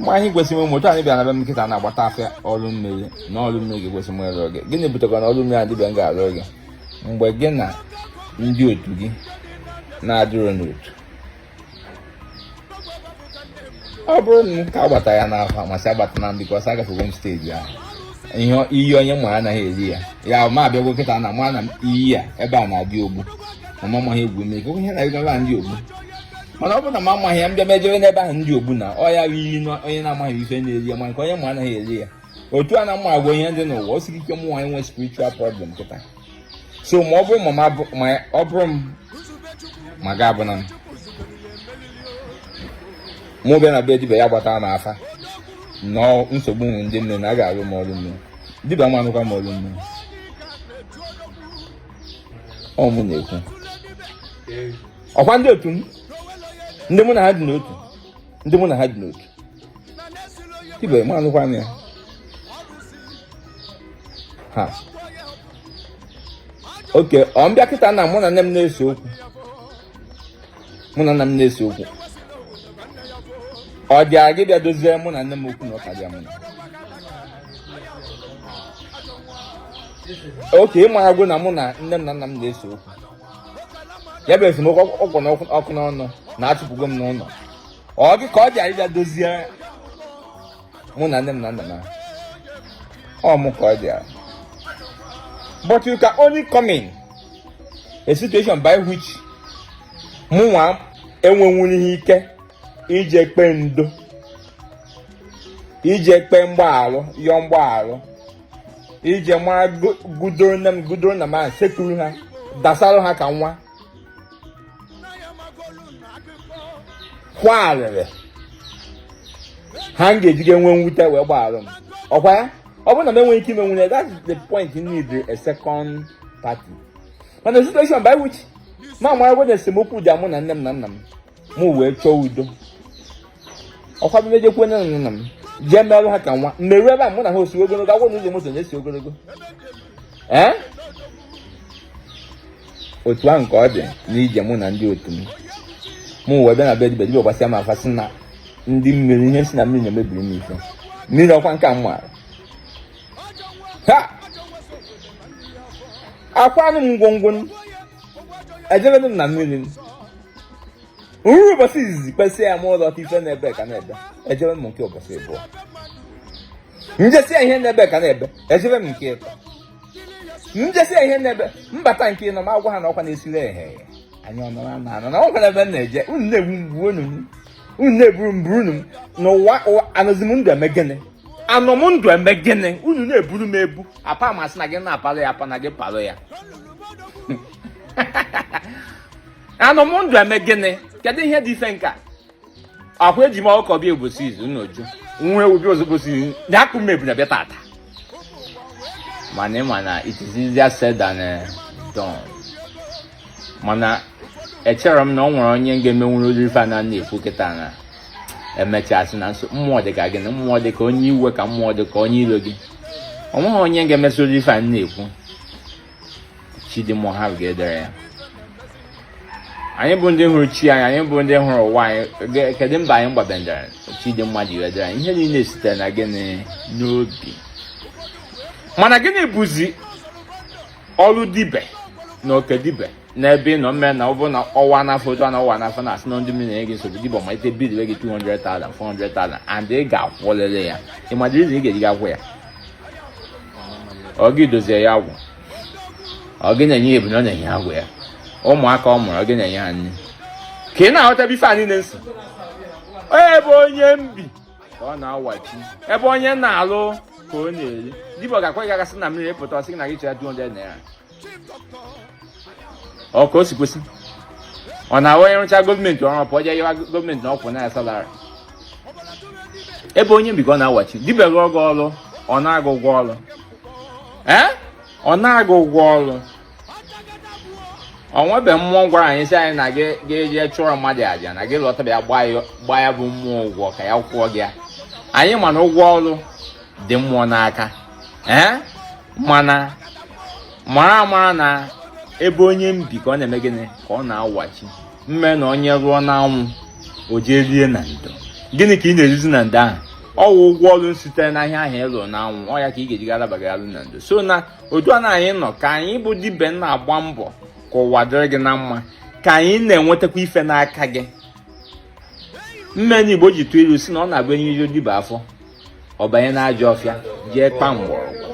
ma ihe kwesịrị ụmụ otu anyị bịara na be m kịta na-agbata afa ọrụ mmiri na ọrụ mmiri ga-ekwesị m ịrụ oge gịnị butekwa na ọrụ mmiri a dibịa m ga-arụ oge mgbe gị na ndị otu gị na-adịrọ n'otu ọ bụrụ na m ka agbata ya n'afa m asị agbatana m because agafego m steji ahụ iyi onye ma anaghị eri ya ya ma abịagwo kịta na ma na iyi a ebe a na-adị ogbu ma m amaghị egwu mmiri ihe na-ego ebe a dị ogbu mana ọ bụrụ na m amaghị ya m bịa mejere n'ebe ahụ dị ogbu na ọ ya bụ iyi onye na-amaghị ife na-eri ya ma nke onye ma anaghị eri ya otu a na mma agwa ihe ndị n'ụwa o siri ike mụ nwaanyị nwee spiritual problem kịta so ma ọ bụrụ ma ma ọ bụrụ m ma ga abụ na mụ bịa na be dibia ya gbata m afa na nsogbu m wụ ndị mmiri na a ga-alụ m ọrụ mmiri dibia m alụkwa m ọrụ mmiri ọ mụ na-ekwu ọkwa ndị otu m ndị mụ na ha dị n'otu ndị mụ na ha dị n'otu dibia m alụkwa ya ha okay ọ m bịa kịta na mụ na nne m na-ese okwu mụ na nna m na-ese okwu ọ dịa gị ịbịa dozie mụ na nne m okwu na ụka bịa mụ na okay ị maragwo na mụ na nne m na nna m na-ese okwu ya bụ esemokwu kpụ ọkụ n'ọnụ na achụpụgo m n'ụlọ ọ gị ka ọ dịara ịbịa dozie mụ na nne m na nna m ọ mụ ka ọ dịara but you can only come in a situation by which mụ nwa enwenwurọ ike ije kpe ndo ije kpe mgbaghalụ yọọ mgbaghalụ ije mara gudo nne m gudo nna m sekpuru ha dasara ha ka nwa kwaa arịrị ha m ga-ejiga nwee mwute wee gbaghara m ọkwa ya ọ bụrụ na m enweghị ike imenwu ya that's the point you need a second party mana situation by which m maragwo na esemokwu dị mụ na nne m na nna m mụ wee chọọ udo ọkwa m ejekwu nne na nna m jee merụ ha ka nwa mmerụ ebe a mụ na ha osi ogologo agwọ na ụzọ moto na-esi ogologo ee otu ahụ ka ọ dị n'ije mụ na ndị otu m mụ wee bịa na be dibia gbasịa m afa sị na ndị mmiri ihe si na mmiri na-emebiri m ife mmiri ọkwa nke a m maara ha akwanụ m ngwongwo ejebe m na mmiri m ruru ụbọsị izizi kpesịa m lọta ife na-ebe ka na-ebe ejebe m nke ụbọsị abụọ m jesịa ihe na-ebe ka na-ebe ejebe m nke ịtọ m jesịa ihe na-ebe m bata nke ịnọ m agwa ha na ọkwa na-esiri ehe anya ọnụ na anọ na ọ gwara ebe m na-eje unu na-egbu m gbuo unu unu na-eburu m buru m n'ụwa anọzi m ndụ eme gịnị anọ m ndụ eme gịnị unu na-eburu m ebu apa m sị na gị na-apalụ ya apa na gị palụ ya anọ m ndụ eme gịnị kedu ihe dị ife nka ọ kwa eji m ọkụkọ bịa ụbọsị izizi nnoju nwa ewu bịa ozugbo sị ya akpụ m ebunu bịa tata mana ị ma na it is easier said than eh, done mana echerọ m na o nwere onye ga-emenwuru ụdịrị ife a na na-ekwu kịta na emechasị na-eso mmụọ dị ka gị na mmụọ dị ka onye iwe ka mmụọ dị ka onye iro gị o nweghị onye ga-emesi ụdịrị ife a na-ekwu Chidimma Ohalu ga-edere ya anyị bụ ndị hụrụ chi anyị anyị bụ ndị hụrụ ụwa anyị kedu mba anyị gbabendara Chidimma ji wedere anyị ihe niile sitere na gịnị n'obi mana gịnị bụzi ọrụ dibe na oke dibe n'ebe ị nọ mme na ọ bụrụ na ọwa n'afa otu a na ọwa n'afa na-asị na ndị mmiri na-enye gị nsogbu dibe malite bill gị 200,000 400,000 and ị ga-akwụlili ya ị ma dịrịzi ị ga-eji gị akwụ ya ọ gị dozie ya agwụ ọ gị na-enye ya ebunu ọ na-enye agwụ ya ụmụaka ọ mụrụ ọ gị na-enye ha nri ka ị na-aghọtabe ife anyị na-asị ebe onye bi ka ọ na-awachi ebe onye na-alụ ka ọ na-eri dibe ga-akwa gị agasị na mmiri pụta ọ sị gị na gị chọrọ 200 naira ọ ka o si kwesị ọ na-awụ onye rụcha gọọmenti ọrụ pụọ jee yọwa gọọmenti na ọ kwụna ya salari ebe onye bi ka ọ na-awachi dibe rụọ gị ọrụ ọ naa gị ụgwọ ọrụ ee ọ naa gị ụgwọ ọrụ o nwebe mmụọ gwara anyị sị anyị na gị ga-eje chụọrọ mmadụ aja na gị lọta bịa gbaa ya bụ mmụọ ụgwọ ka ya kwụọ gị ya anyị ma na ụgwọ ọrụ dị mmụọ n'aka ee mana mara amara na ebe onye bi ka ọ na-eme gịnị ka ọ na-awachi mme na onye rụọ n'anwụ o jee rie na ndo gịnị ka ị na-erizi na ndo ahụ ọ wụ ụgwọ ọrụ sitere n'ihe ahụ ị lụ na anwụ ọ ya ka ị ga-eji galabagara alụ na ndo so na otu a na anyị nọ ka anyị bụ dibe na-agba mbọ ka ụwa dịrị gị na mma ka anyị na-enwetakwa ife n'aka gị mme ndị igbo ji tụ ilu sị na ọ na-abụ e nyejuo dibe afọ ọ banye n'ajọ ọfịa jee kpa mgbọrọgwụ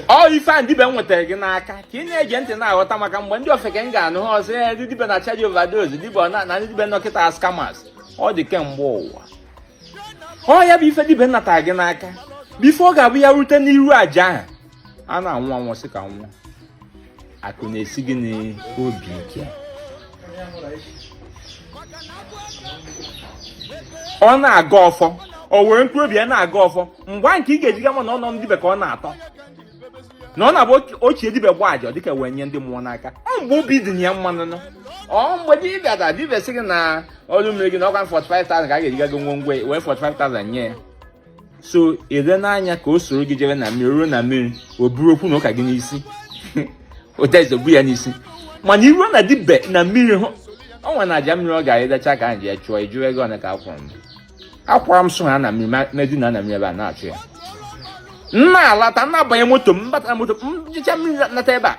ọ ife a dibe nwetara gị n'aka ka ị na-ege ntị na-aghọta maka mgbe ndị ofeke ga-anụ ha asị ya ndị dibe na-achaji overdose dibe na ndị dibe nọ kịta are scammers ọ dị kemgbe ụwa ọ ya bụ ife dibe natara gị n'aka bụ ife ọ ga-abụ ya rute n'iru aja ahụ a na-anwụ anwụ sị ka nwụọ akụ na-esi gị n'obi ike ọ na-agọ ọfọ o were mkpụrụ obi ya na-agọ ọfọ mgbe nke ị ga-eji ga ama na ọnụ dibe ka ọ na-atọ na ọ na-abụ ochie dibe gbaa aja dịka wee nye ndị mmụọ n'aka ọ mgbe obi dị ya mma n'ụnọ ọ mgbe dibịa da dibịa sị gị na ọrụ mmiri gị na ọkwa 45,000 ka a ga-eji ga go ngwongwo wee 45,000 nye ya so ire n'anya ka o soro gị jere na mmiri ruo na mmiri o buru okwu na ụka gị n'isi ụdaize bu ya n'isi mana i ruo na dibe na mmiri hụ ọnwa na aja mmiri ọ ga-arịdacha ka anyị ji ya chụọ ị jụọ ego one ka a kwụrụ m akwara m so ha na mmiri m edina na mmiri ebe a na-achụ ya m na-alata m na-abanye moto m bata moto m jecha mmiri nata ebe a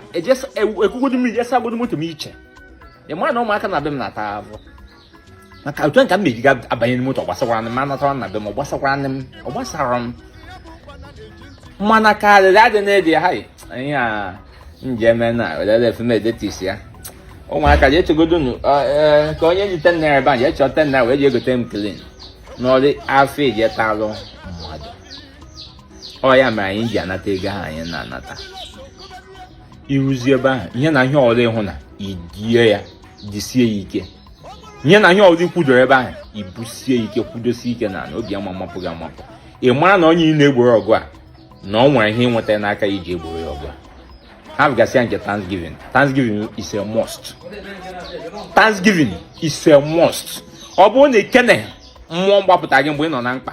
ekugodo mmiri je sagodo moto m iche ị mara na ụmụaka na be m na-ata ahụ maka otu nke m na-eji ga abanye n'ime moto ọ gbasakwara m ma natara na be m ọ gbasakwara m ọ gbasara m mana karịrị adị na-edi ha anyị a njeme na welere efemedetis ya ụmụaka ji echegodonu ka onye ji ten naira ebe a ji echọ ten naira wee ji egote m klin n'ọrụ afọ eji etalụ mmadụ ọ ya mere anyị ji anata ego ahụ anyị na-anata i ruzi ebe ahụ ihe na ihe ọrụ ị hụ na i die ya jisie ya ike ihe na ihe ọrụ i kwudoro ebe ahụ i busie ike kwudosie ike na obi ama mapụ gị amapụ ị mara na onye ị na-egboro ọgụ a na o nwere ihe i nweta n'aka ya i ji egboro ya ọgụ a hapụgasịa nke Thanksgiving Thanksgiving is a must Thanksgiving is a must ọ bụrụ na i kene mmụọ gbapụta gị mgbe ị nọ na mkpa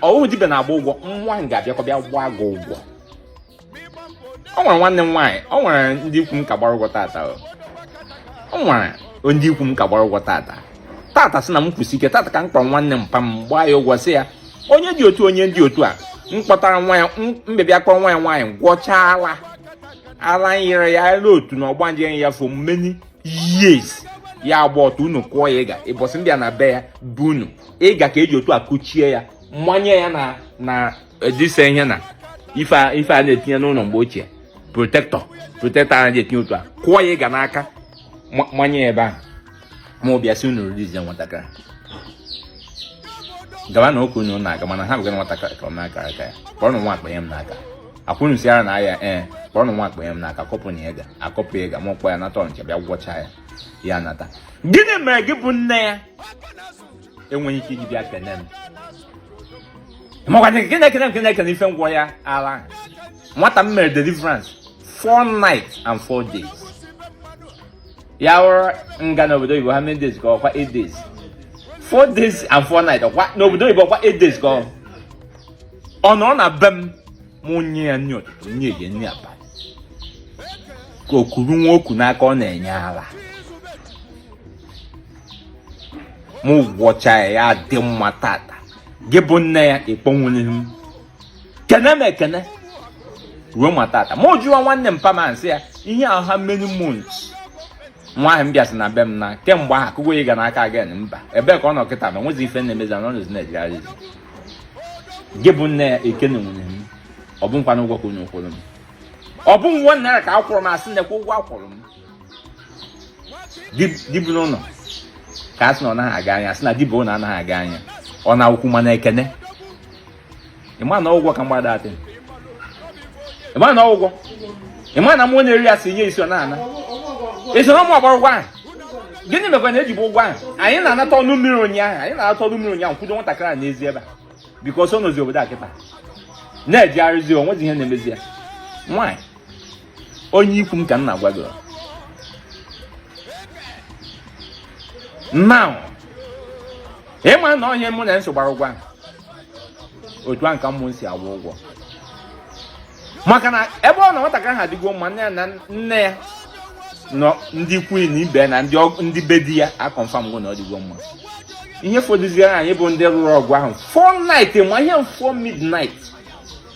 ọ wụ dibe na-agba ụgwọ nwa m ga-abịakwa bịa gbaa gị ụgwọ o nwere nwanne m nwaanyị o nwere ndị ikwu m ka gbara ụgwọ tata o nwere ndị ikwu m ka gbara ụgwọ tata tata sị na m kwusi ike tata ka m kpọrọ nwanne mpa m gbaa ya ụgwọ sị ya onye dị otu onye dị otu a m kpọtara nwa ya m wee bịa kpọrọ nwa ya nwaanyị gwọchaa ala ala nyere ya elu otu na ọgbanje ya for many years ya agba ọtọ unu kụọ ya ịga ụbọsị ndị a na be ya bụ unu ịga ka e ji otu a kụchie ya manye ya na na edise ihe na ife a ife a na-etinye n'ụlọ mgbe ochie protector protector a na-etinye otu a kụọ ya ịga n'aka ma- manye ya ebe ahụ m abịa sị unu release ya nwatakịrị gawa na oke unu na-aga mana hapụgara nwatakịrị ka ọ na-aka aka ya kpọrọ nwa a kpaye m n'aka akwụnụ si ara na ahịa ee kpọrọ nwa a kpaye m n'aka kọpụ na ya ga akọpụ ya ga m akpọ ya nata ọnịcha bịa gwọcha ya ya nata gịnị mere gị bụ nne ya enweghị ike iji bịa kene m makwana nke na-ekene nke na-ekene ife m gwọ ya ala nwata m mere deliverance four nights and four days ya wụrụ nga n'obodo oyibo how many days ka ọkwa eight days four days and four nights ọkwa n'obodo oyibo ọkwa eight days ka ọ nọrọ na be m mụ nye ya nri ụtụtụ nye ya nri abalị ka o kuru nwa oku n'aka ọ na-enye ala m gwọcha ya ya dị mma tata gị bụ nne ya ị kpọnwughị m kene m ekene ruo ma tata ma jụọ nwanne mpa m asị ya ihe ahụ how many months nwa ahụ bịasị na be m na kemgbe ahụ akụgo ịga n'aka again mba ebee ka ọ nọ kịta ma o nwezi ife na-emezi ya ọ nọzi na-ejegharị gị bụ nne ya ekenenwughị m ọ bụkwanụ ụgwọ ka unu kwụrụ m ọ bụ one naira ka akwụrụ m asị nekwa ụgwọ akwụrụ m dibịa n'ụlọ ka a sị na ọ naghị aga anya sị na dibịa ụlọ anaghị aga anya ọ na-akwụkwụ mana ekene ịma na ọ bụ ụgwọ ka mgbada atị ịma na ọ bụ ụgwọ ịma na mmụọ na-eri asaa nye isii ọ na-ana esi na ụmụ agbara ụgwọ ahụ gịnị mekwa na ejibu ụgwọ ahụ anyị na-anata ọrụ mmiri ụnyaahụ anyị na-anata ọrụ mmiri ụnyaahụ kwudo nwatakịrị a n'ezi ebe a because ọ nọzi obodo a kịta na-ejegharịzi o nwezi ihe na-emezi ya nwaanyị onye ikwu m ka m na-agwa gị now ịma na onye mmụọ na-eso gbara ụgwọ otu ahụ ka mmụọ si akwụ ụgwọ maka na ebe ọ bụ na nwatakịrị ahụ adịgo mma nne ya na nna ya na ndị ikwu na ibe na ndị be di ya aconfirmgo na ọ dịgo mma ihe fọdụziere anyị bụ ndị rụrụ ọgwụ ahụ 4 night ma ihe 4 midnight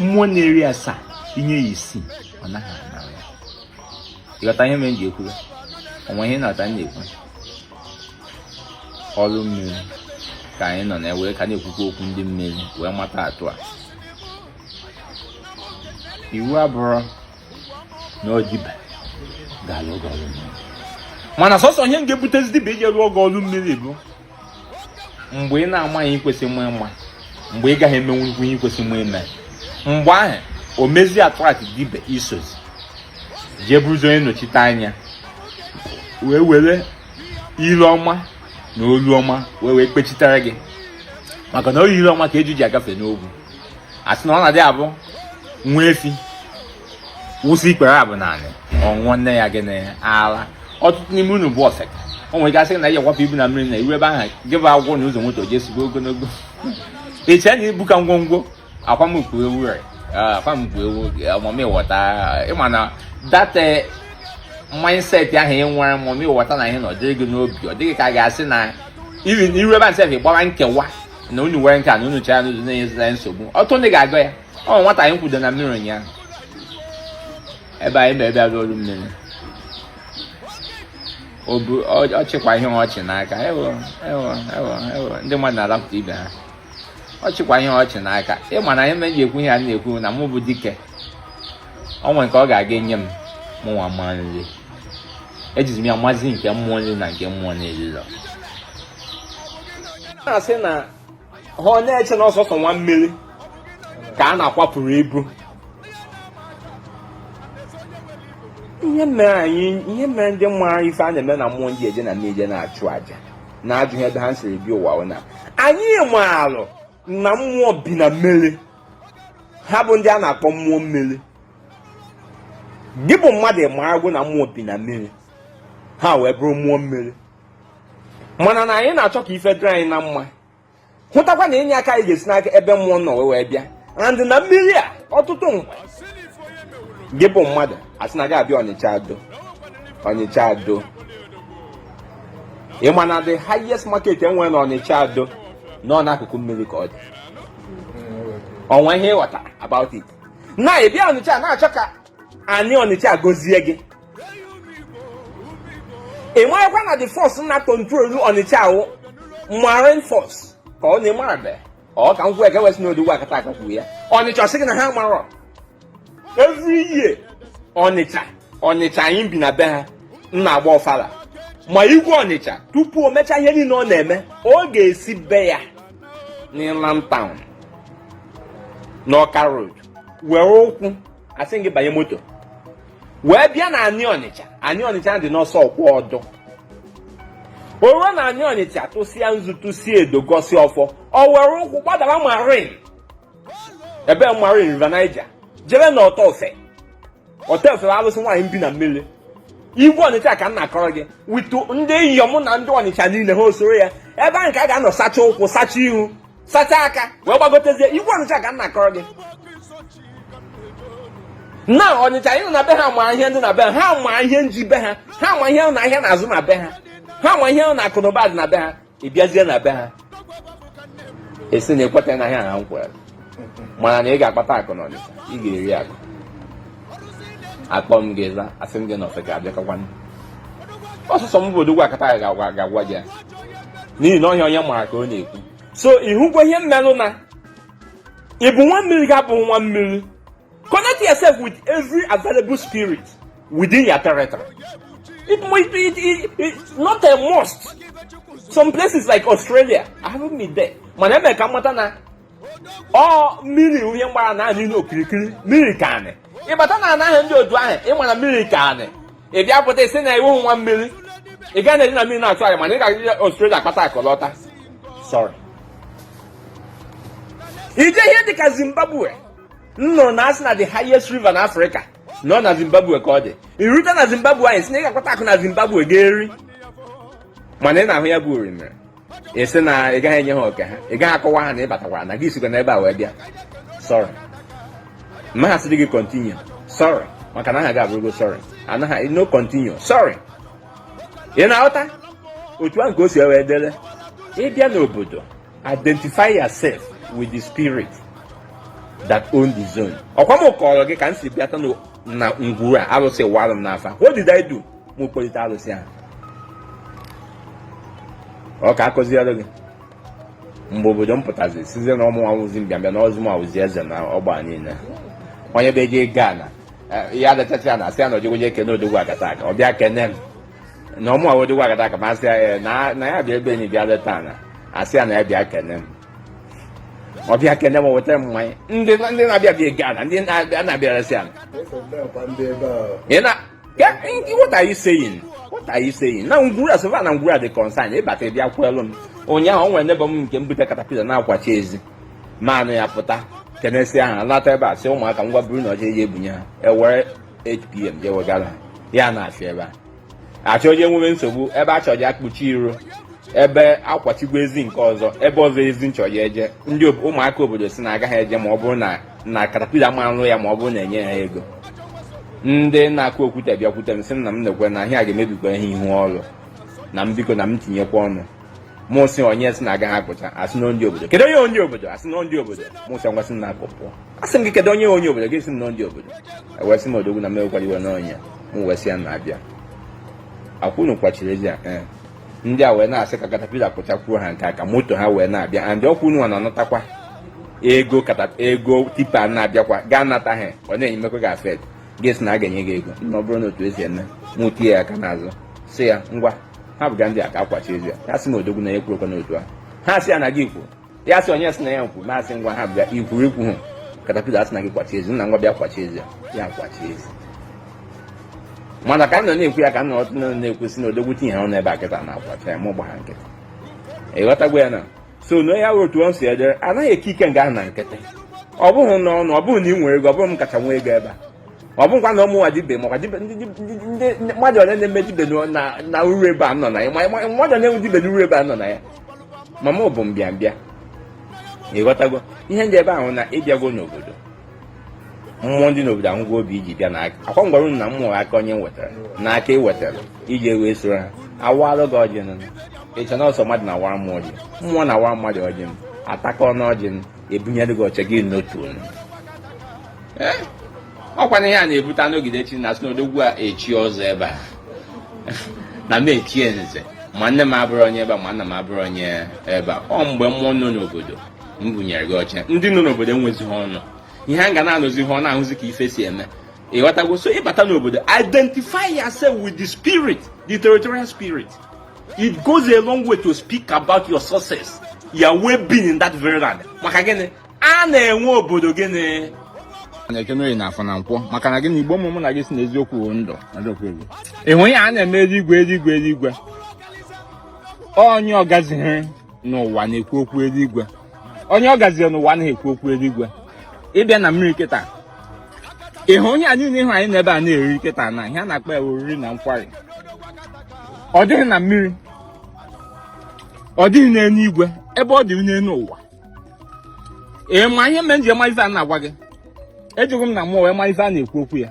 mmụọ na-eri asaa i nye ya isii ọ naghị anara ya ịghọta ihe mere m ji ekwu ya o nwe ihe na-ata m na-ekwu ọrụ mmiri ka anyị nọ na ya wee ka na-ekwukwa okwu ndị mmiri wee mata atụ a iwu abụrọ na ọ dibịa ga-alụ gị ọrụ mmiri mana sọsọ ihe ga-ebutezi dibịa iji lụọ gị ọrụ mmiri bụ mgbe ị na-amaghị ihe ị kwesịrị ịma mgbe ị gaghị emenwu ihe ị kwesịrị ime mgbe ahụ o mezie atụmatụ dibịa esozi jee bụrụzi onye nnọchite anya wee were ire ọma na olu ọma wee wee kpechitere gị maka na ọ bụ ire ọma ka eju ji agafe n'ogwu a sị na ọ na-adị abụ nwa efi wụsị ikpere abụọ n'anị ọ ṅụọ nne ya gịnị ala ọtụtụ n'ime unu bụ ọseka o nwere ike asị na ị ya-akwapụ ibu na mmiri na iru ebe ahụ gị bụ agwọ na ụzọ moto ji esigo ogologo eche na ibu ka ngwongwo akwamkpu ewu rị akwamkpu ewu ọmụmụ ịghọta ịma na that eh, mindset ahụ ị nwere ọmụmụ ịghọta na ihe na ọ dịghị gị n'obi ọ dịghị ka a ga-asị na iru ebe asef gbara nkewa na unu nwere nke a na unu chara n'ụzọ na-enye nsogbu ọtụ ndị ga-agọ ya o nwe nwata anyị kwudo na mmiri ụnyaahụ ebe anyị bịa bịa ọlụ mmiri ọ chịkwa ihe ọchị n'aka ewo ewo ewo ewo ndị mmadụ na-arapụta ibe ha ọ chịkwa ihe ọchị n'aka ịma na ihe m ji ekwu ihe a na-ekwu na mụ bụ dike o nwere nke ọ ga-aga enye m mụnwa mma nri ejizi m ya mazi nke mmụọ na-eri na nke mmụọ na-erirọ na-asị na ha ọ na-eche na ọ sọsọ nwa mmiri ka a na-akwapụrụ ibu ihe mere anyị ihe mere ndị mara ife a na-eme na mmụọ nji eje na mmiri na-achụ aja na-ajụ ebe ha siri bịa ụwa bụ na anyị maalụ na mmụọ bi na mmiri ha bụ ndị a na-akpọ mmụọ mmiri gị bụ mmadụ ịmaragwo na mmụọ bi na mmiri ha wee bụrụ mmụọ mmiri mana na anyị na-achọ ka ife dịrị anyị na mma hụtakwa na inye aka anyị ga-esi n'aka ebe mmụọ nọ wee bịa and na mmiri a ọtụtụ mgbe gị bụ mmadụ asị na gị abịa ọnịcha ado ọnịcha ado ị ma na the highest market e nwere na ọnịcha ado nọ n'akụkụ mmiri ka ọ dị o nwe ihe ị ghọta about it na ị bịa ọnịcha na-achọ ka Ani Ọnịcha gozie gị ị marakwa na the force na-control Ọnịcha ahụ marine force ka ọ na-eme abe ọ ka nkwụ eke wesị n'Odogwu Akataka kwuru ya Ọnịcha sị gị na ha marọ every year Ọnịcha Ọnịcha anyị bi na be ha na-agba ọfala ma igwe Ọnịcha tupu o mechaa ihe niile ọ na-eme ọ ga-esi be ya n'Inland Town n'Ọka Road were ụkwụ asịghị banye moto wee bịa na anị ọnịcha anị ọnịcha dị n'ose okwuodu o ruo na anị ọnịcha tụsịa nzu tụsịa edo gọsi ọfọ ọ were ụkwụ gbadara marine ebe marine river niger jere na ọtọ ofe ọtọ ofe alụsị nwaanyị mbi na mmiri igwe ọnịcha ka m na-akọrọ gị with ndị inyom na ndị ọnịcha niile ha osoro ya ebe ahụ ka a ga-anọ sacha ụkwụ sacha ihu sacha aka wee gbagotezie igwe ọnịcha ka m na-akọrọ gị na ọnịcha anyị nọ na be ha ma ihe ndị na be ha ha ma ihe nji be ha ha ma ihe na ahịa na-azụ na be ha ha ma ihe na akụ na ụba dị na be ha ị bịazie na be ha asị na ekweta na ihe a ha nkwere mana na ị ga-akpata akụ na ọnịcha ị ga-eri akụ akpọ m gị za asị m gị na ọsị ga-abịakọkwanụ ọ sọsọ m bụ odogwu akataka ga-agwa gị ya n'ihi na ọ ihe onye mara ka ọ na-ekwu so ị hụkwa ihe mere na ị bụ nwa mmiri ga-abụ nwa mmiri connect yourself with every available spirit within your territory it might be it, it, it, not a must some places like australia i haven't been there mana e me ka m mata na ọ mmiri wụ ihe gbara anị niile okirikiri mmiri ka anị ị bata na ana ndị otu ahụ ị mara na mmiri ka anị ị bịa pụta ị sị na ị wụ nwa mmiri ị gaghị na-eje na mmiri na-atụ anyị mana ị ga-aga Australia akpata akụ lọta sorry ị je ihe dịka Zimbabwe m nụrụ na asị na the highest river na Africa nọ na zimbabwe ka ọ dị ị rute na zimbabwe ị sị na ị ga-akpata akụ na zimbabwe ga-eri mana ị na-ahụ ya bụ orimiri ị sị na ị gaghị enye ha oke ha ị gaghị akọwa ha na ị batakwara na gị sikwa n'ebe a wee bịa sorry m ma asị gị continue sorry maka na aha gị abụrụgo sorry anaghị no continue sorry ị na-aghọta otu ahụ ka o si wee dịrị ị bịa n'obodo identify yourself with the spirit that own the zone ọkwa m kọrọ gị ka m si bịata na ngwuru a alụsị wara m n'afa what did I do m kpọlite alụsị ahụ ọ ka akụziere gị mgbe obodo pụtazi sịzie na ọ mụ awụzi mbịambịa na ọzụ m awụzi eze na ọgba niile onye be je gaa na ya adachasị ya na asị ya na o jego je kene odogwu akataka ọ bịa kene m na ọ mụ wụ odogwu akataka m asị ya eh, na ya bịa ebe enyi bịa leta na asị ya na ya bịa kene m ọ bịa kene m weta mmanya ndị na-abịa bịa ghana ndị na-abịa russia what are you saying what are you saying na ngwuru a as far na ngwuru a dị concern ị bata bịa kwelụ m ụnyaahụ o nwere neighbour m nke m bute katapila na-akwachi ezi m anụ ya pụta kenesịa ha lata ebe a sị ụmụaka ngwa buru na ọcha je bunye ha ewere 8pm je wegara ha ya na-asị ebe a achọ onye nwere nsogbu ebe a chọrọ ya kpuchi iro ebe akwachigwa ezi nke ọzọ ebe ọzọ ezi nchọ ya eje ndị ụmụaka obodo sị na agaghị eje ma ọ bụrụ na na katapila ma arụ ya ma ọ bụrụ na enye ha ego ndị na-akụ okwute bịakwute m sị na m nekwa na ihe a ga-emebikwa ihe ihu ọrụ na m biko na m tinyekwa ọnụ mụ sị onye sị na agaghị akpụcha asị na ndị obodo kedu onye onye obodo asị na ndị obodo mụ sị ngwa sị na akụ pụọ asị m gị kedu onye onye obodo gị sị na ndị obodo ewee sị m odogwu na m ewekwala iwe n'onye m wee sị ya na-abịa akwụnụ kwachiri ezi ya eh. ndị a wee na-asị ka katapila kpụchakwuo ha nke aka moto ha wee na-abịa and ọkwa ụnụ na-anatakwa ego ego tipa na-abịakwa gaa nata ha ọ na-enye mmekọ gị after gị sị na a ga-enye gị ego na ọ bụrụ na otu esi eme mụ tie ya aka n'azụ sị ya ngwa ha bụga ndị a ka akwachi ezi ya ha sị na odogwu na ya ekwurokwa n'otu ahụ ha sị ya na gị kwuru ya sị onye sị na ya nkwu ma asị ngwa ha bụga ikwuru ikwu hụ katapila asị na gị kwachi ezi nna ngwa bịa kwachi ezi ya ya kwachi ezi mana ka m nọ na-ekwu ya ka m nọ ọtụ na-ekwu sị na odogwu tinye ha ọnụ ebe a kịta na-akwacha ya mụ gba ha nkịtị ịghọtagwo ya na so na ya otu ọ si adịrị anaghị eke ike nga ahụ na nkịtị ọ bụghị na ọnụ ọ bụghị na ị nwere ego ọ bụghị m kacha nwee ego ebe a ọ bụghịkwa na ọ mụnwa dibe makwa mmadụ ole na-eme dibe na uru ebe a nọ na ya mmadụ na-enwe dibe na uru ebe a nọ na ya ma mụ bụ mbịambịa ịghọtago ihe ndị ebe ahụ na ịbịago n'obodo mmụọ dị n'obodo ahụgo obi iji bịa na ọkwa m gwara unu na mmụọ aka onye wetara na aka ị wetara e ji wee soro ha awalụ gị ọjị nụ iche na ọ sọ mmadụ na-awara mmụọ ọjị mmụọ na-awara mmadụ ọjị m atakọ ọnụ ọjị m ebunyere gị oche gị n'otu onu ọkwa na ihe a na-ebute anọgide chi na sị na odogwu a echi ọzọ ebe a na m echie nze ma nne m abụrụ onye ebe a ma nna m abụrụ onye ebe a ọ mgbe mmụọ nọ n'obodo bunyere gị oche ndị nọ n'obodo enwezighị ọnụ ihe a ga na-anụzi ha ọ na-ahụzi ka ife si eme ịghọtago so ịbata n'obodo identify yourself with the spirit the territorial spirit it goes a long way to speak about your success your well-being in that very land maka gịnị ana nwe obodo gịnị na eke na orie na afọ na nkwọ maka na gị na igbo ụmụ mụ na gị sị na eziokwu ndụ ịhụ ya a na-eme eluigwe eluigwe eluigwe onye ọ gazihiri n'ụwa na-ekwu okwu eluigwe onye ọ gaziri n'ụwa anaghị ekwu okwu eluigwe ịbịa na mmiri kịta ịhụ ihe a niile ịhụ anyị nọ ebe a na-eri kịta na ihe a na-akpọ ya oriri na nkwari ọ dịghị na mmiri ọ dịghị n'elu igwe ebe ọ dị n'elu ụwa ee ma ihe mere m ji ama ife a na-agwa gị ejeghị m na mmụọ wee ma ife a na-ekwu okwu ya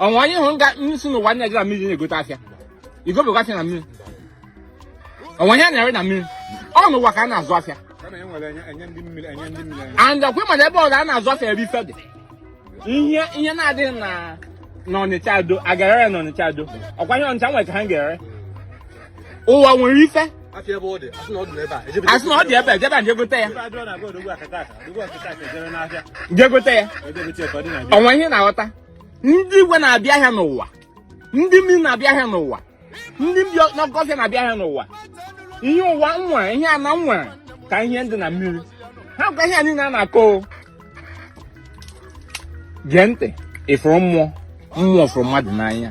o nwe onye ị hụrụ nga ndị si n'ụwa na-eje na mmiri na-egote afịa igobekwa afịa na mmiri o nwe ihe a na-ere na mmiri ọ n'ụwa ka a na-azụ afịa and ọkwa ị ma na ebe ọzọ a na-azụ afịa ebe ife dị ihe ihe na-adịghị na ọnịcha ado a ga-ere ya n'ọnịcha ado ọkwa ihe ọnịcha nwere ka ha ga-ere ụwa nwere ife asị na ọ dị ebe a ejebe jee gote ya jee gote ya o nwe ihe ị na-aghọta ndị igwe na-abịa ahịa n'ụwa ndị mmiri na-abịa ahịa n'ụwa ndị bi n'oke ọfịa na-abịa ahịa n'ụwa ihe ụwa nwere ihe ana nwere ka ihe dị na mmiri hakwa ihe niile a na-akọ gee ntị ịfụrụ mmụọ mmụọ fụrụ mmadụ n'anya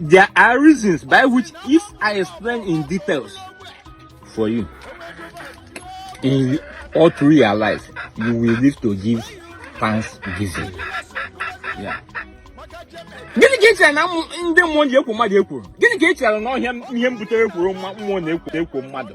There are reasons by which if I explain in details for you, in all through your life you will live to give thanksgiving. Yeah. gịnị ka ị chere na ndị mmụọ ji ekwo mmadụ ekworo gịnị ka ị chere na ọ bụ ya ihe mbutere ekworo mmụọ na-ekwo ekwo mmadụ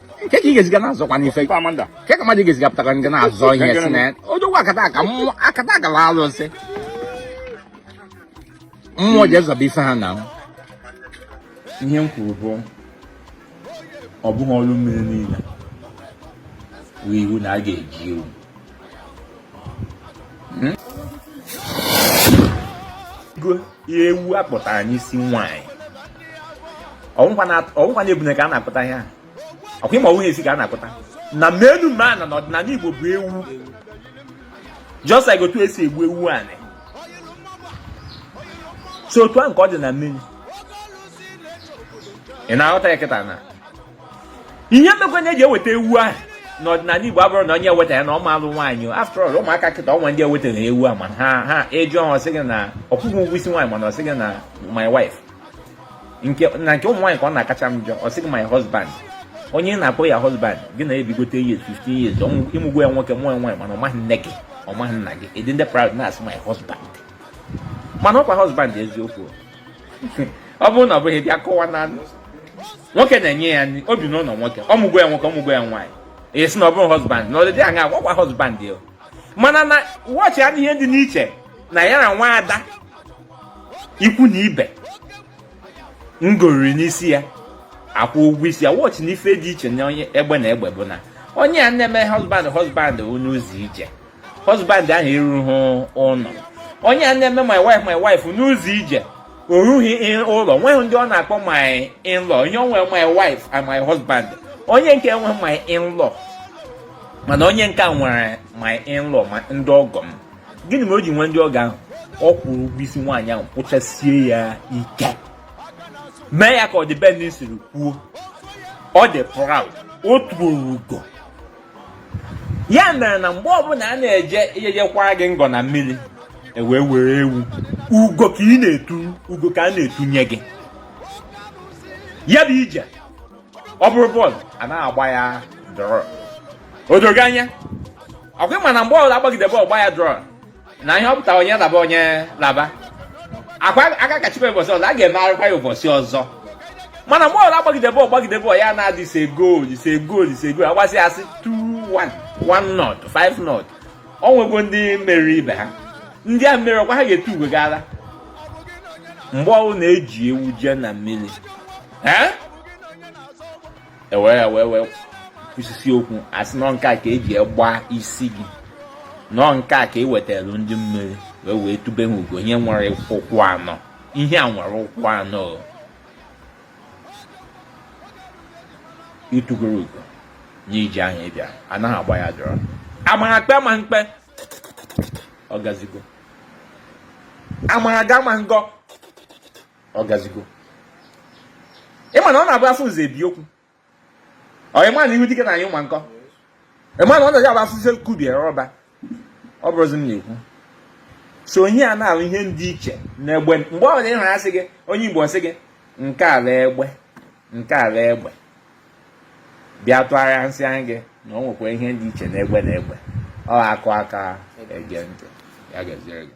ka ị ga-esi ga na-azọkwa n'ife kee ka mmadụ ga-esi ga pụtakwa nga na-azọ ihe si na odogwu akataka mmụọ akataka na alụsị mmụọ ji ezọba ife ha na ihe m kwuru bụ ọ bụghị ọrụ mmiri niile bụ iwu na a ga-eji ewu ihe ewu a kpụtara n'isi nwaanyị ọ wụkwa na ebune ka a na-akpụta ihe a ọkwa ị ma ọ wụ esi ka a na-akpụta na menu mana n'ọdịnala Igbo bụ ewu just like otu esi egbu ewu anị so otu ahụ ka ọ dị na mmiri ị na-aghọta ya kịta na ihe mekwa na e ji eweta ewu ahụ n'ọdịnala Igbo abụrọ na onye eweta ya na ọ ma alụ nwaanyị after all ụmụaka kịta o nwe ndị ewetara ewu a mana ha ị jụọ ọ sị gị na ọ kwụghị ụgwọ isi nwaanyị mana ọ sị gị na my wife nke na nke ụmụ nwaanyị ka ọ na-akacha m njọ ọ sị gị my husband onye ị na-akpọ ya husband gị na ebigote years 15 years ị mụgwọ ya nwoke mụọ ya nwaanyị mana ọ maghị nne gị ọ maghị nna gị ị dị proud na-asị my husband mana ọkwa husband eziokwu ọ bụrụ na ọ bụghị bịa kọwa na nwoke na-enye ya nri o bi n'ụlọ nwoke ọ mụgwọ ya nwoke ọ mụgwọ ya nwaanyị a sị na ọ bụrụ husband na ọdịdị aṅa agwakwa husband ya mana na watch ya ihe dị n'iche na ya na nwa ada ikwu na ibe ngoriri n'isi ya a kwụọ ụgwọ isi ya watch na ife dị iche na onye egbe na egbe bụ na onye a na-eme husband husband n'ụzọ ije husband ahụ erughị ụlọ onye a na-eme my wife my wife n'ụzọ ije o rughị ụlọ nweghị ndị ọ na-akpọ my in-law ihe o nwe my wife and my husband onye nke enwe my in-law mana onye nke a nwere my in-law ma ndị ọgọ m gịnị mere o ji nwee ndị ọgọ ahụ ọ kwụrụ ụgwọ isi nwaanyị ahụ kwụchasie ya ike mee ya ka ọdịbendị siri kwuo ọ dị proud o turu ugo ya mere na mgbe ọbụla a na-eje ije jekwara gị ngọ na mmiri e wee were ewu ugo ka ị na-etu ugo ka a na-etunye gị ya bụ ije ọ bụrụ bọọlụ a na-agba ya draw o dogo anya ọkwa ị ma na mgbe ọbụla a gbagide bọọlụ gbaa ya draw na ihe ọ pụtara onye laba onye laba akwa aka kachibe ụbọchị ọzọ a ga-emegharịkwa ya ụbọchị ọzọ mana mgbe ọ bụla agbagide bọọlụ gbagide bọọlụ ya na-adị ise goolu ise goolu ise goolu agbasịa asị 2-1 1 nought 5 nought ọ nwego ndị meriri ibe ha ndị a meriri ọkwa ha ga-etu ugo gara mgbe ọwụ na-eji ewu jee na mmeri ewere ya wee wee kwusisi okwu asị na nke a ka eji gbaa isi sị na nke a ka e wetara ndị mmeri wee wee tube ha ugo ihe nwere ụkwụ anọ ihe a nwere ụkwụ anọ itugoro ugo n'iji ahụ ịbịa anaghị agba ya draw amara kpe ma mkpe ọ gazigo amara ga ma ngọ ọ gazigo ị ma na ọ na-abụ afụ nze ebie okwu ọ ị ma na ihu dike na-anyụ mma nkọ ị ma na ọ na-eji abụ afụzi kubie rọba ọ bụrụzi m na-ekwu so ihe a na-alụ ihe dị iche n'egbe mgbe ọ bụla ị hụ asị gị onye Igbo sị gị nke ala egbe nke ala egbe bịa tụgharịa nsị anyị gị na ọ nwekwa ihe dị iche n'egbe na egbe ọ akụ aka ege ntị ya gaziere gị